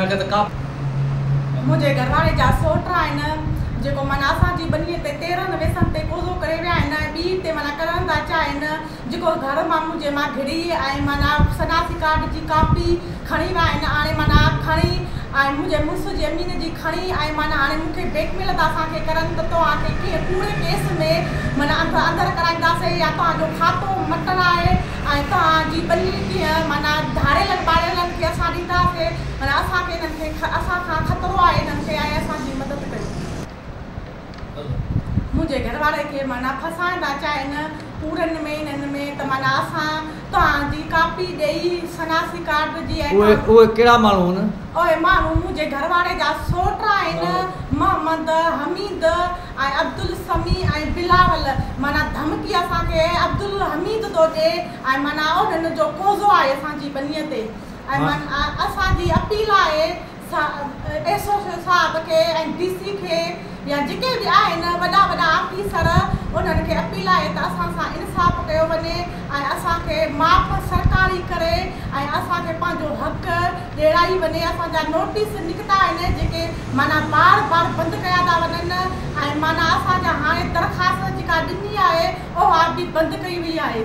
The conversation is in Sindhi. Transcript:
نقد ڪا. منهنجي گهرواري جا سؤٽ آهن جيڪو معنيٰ اسان جي ٻنيء تي تيرهن ويسن تي قوضو ڪري ويا آهن ۽ ٻيئي تي معنيٰ ڪرڻ ٿا چاهين جيڪو گهر مان منهنجي ماء گهڙي ۽ معنيٰ شناسي ڪارڊ جي ڪاپي کڻي ويا آهن آڻي معنيٰ کڻي ۽ منهنجي مڙس جي امين جي کڻي ۽ معنيٰ آڻي مون کي بليڪ ميل ٿا اسان کي ڪرن ته توهان کي ڪنهن ڪوڙي ڪيس ۾ معنيٰ اندر ڪرائينداسين يا توهان جو کاتو مٽرائي ۽ توهان جي ٻنهي ڪيئن معنيٰ ڌاڙيلن ٻاڙيلن کي اسان ڏينداسي، معنيٰ اسان کي انهن کي اسان کان خطرو آهي انهن کي ۽ اسان جي مدد ڪيو. منهنجي گهر واري کي معنيٰ ڦاسائڻ ٿا چاهين پورن ۾ انهن ۾ ته معنيٰ اسان توهان جي ڪاپي ڏيئي شناسي ڪارڊ جي ۽ توهان. اهي ڪهڙا ماڻهو هن؟ اهي ماڻهو منهنجي گهر واري جا سوٽ آهن محمد حميد. اي عبدالسميع ۽ بلاول معنيٰ ڌمڪي اسان کي اي عبدالحميد ٿو ڏي ۽ معنيٰ اهو هن جو قوضو آهي اسان جي ٻنيء تي ۽ معنيٰ اسان جي اپيل آهي ايس او صاحب کي ۽ ڊي سي کي يا جيڪي به آهن وڏا وڏا آفيسر انهن کي اپيل آهي ته اسان سان انصاف ڪيو وڃي ۽ اسان کي معاف سرڪار ئي ڪري ۽ اسان کي پنهنجو حق ڏيرائي وڃي اسان جا نوٽيس نڪتا آهن جيڪي معنيٰ بار بار بند ڪيا ٿا وڃن ۽ معنيٰ اسان جا هاڻي درخواست جيڪا ڏني آهي اها به بند ڪئي وئي آهي.